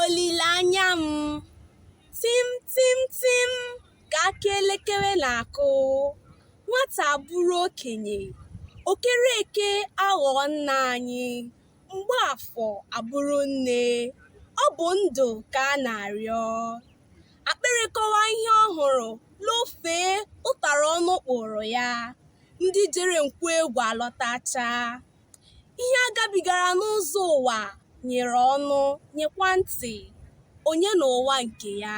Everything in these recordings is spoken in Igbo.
Olileanya m, tim tim tim ka aka elekere na-akụ, nwata abụrụ okenye, okereke aghọọ nna anyị, Mgbaafọ abụrụ nne, ọ bụ ndụ ka a na-arịọ. Akpịrị kọwa ihe ọ hụrụ, lofee ụtara ọnụ kpụụrụ ya, ndị jere nkwu egwu alọtachaa. Ihe a gabigara n'ụzọ ụwa nyere ọnụ, nyekwa ntị, onye na ụwa nke ya.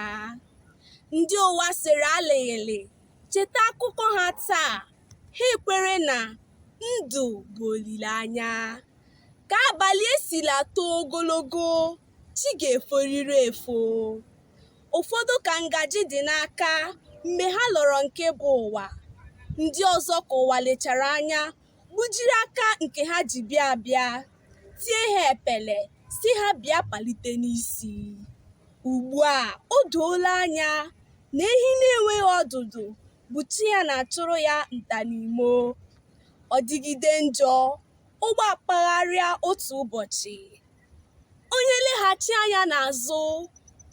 Ndị ụwa sịrị alịghịlị cheta akụkọ ha taa, ha ekwere na ndụ bụ olileanya. Ka abalị esila too ogologo, chi ga-eforiri efo. Ụfọdụ ka ngaji dị n'aka mgbe ha lọrọ nke bụ ụwa. Ndị ọzọ ka ụwa lechara anya gbujiri aka nke ha ji bịa abịa tie ha epele sị ha bịa palite n'isi ugbu a o doola anya na ehi na-enweghị ọdụdụ bụ chi ya na-achụrụ ya nta n'imo ọ dịgide njọ ụgbọ akpagharịa otu ụbọchị onye leghachi anya n'azụ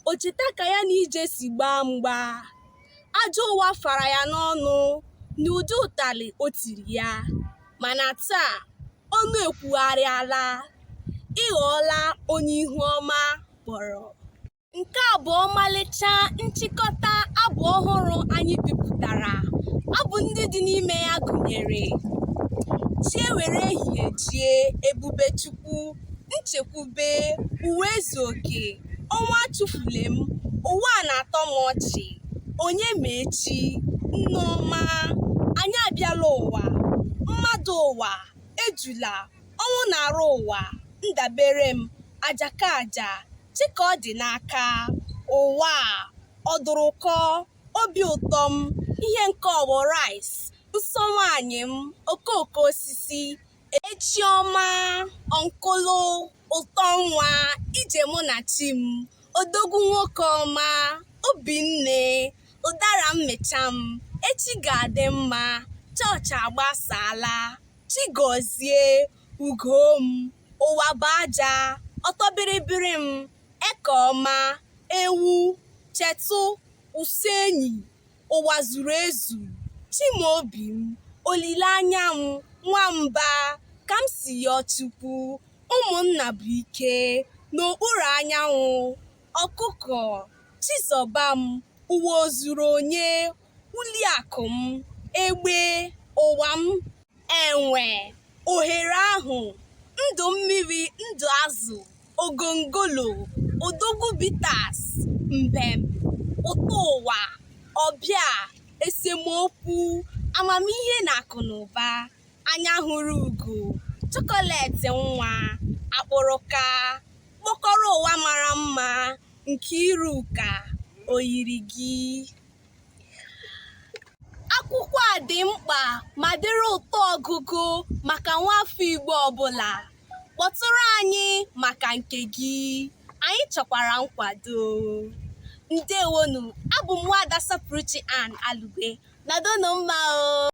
o cheta ka ya na ije si gbaa mgba ajọ ụwa fara ya n'ọnụ n'ụdị ụtalị o tiri ya mana taa ọnụ ekwugharịala ị ghọọla onye ihu ọma kpọrọ nke a bụ ọmalịcha nchịkọta abụ ọhụrụ anyị bipụtara abụ ndị dị n'ime ya gụnyere chi ewere ehihie jie ebube chukwu nchekwube ụwa ezu oke ọnwa chụfule m ụwa a na-atọ m ọchị onye ma echi nneọma anyị abịala ụwa mmadụ ụwa ejula ọnwụ na-arụ ụwa ndabere m aja ka aja chi ka ọ dị n'aka ụwa a ọdụrụkọ obi ụtọ m ihe nke ọgbọ rice nsọ nwaanyị m okooko osisi echi ọma ọnkụlụ ụtọ nwa ije mụ na chi m odogwu nwoke ọma obinne ụdara mmịcha m echi ga-adị mma chọọchị agbasaala Chigozie ugo m ụwa bụ aja ụtọ bịrịbịrị m eke ọma ewu chetụ ụsụ enyi ụwa zuru ezu chimaobi m olileanya m nwamba ka m si yọ chukwu ụmụnna bụ ike n'okpuru anyanwụ ọkụkọ chizọba m ụwa o zuru onye uliakụ m egbe ụwa m enwe ohere ahụ ndụ mmiri ndụ azụ ogongolo odogwu bitters mbem ụtọ ụwa ọbịa esemokwu amamihe na akụ na ụba anya hụrụ ugo chocolate nwa akpụrụka kpọkọrọ ụwa mara mma Nkeiruka oyiri gị akwụkwọ a dị mkpa ma dịrị ụtọ ọgụgụ maka nwafọ Igbo ọbụla kpọtụrụ anyị maka nke gị anyị chọkwara nkwado ndewonu abụ m nwada Sapụrụchi Ann Alugbe nọdụnụ mma o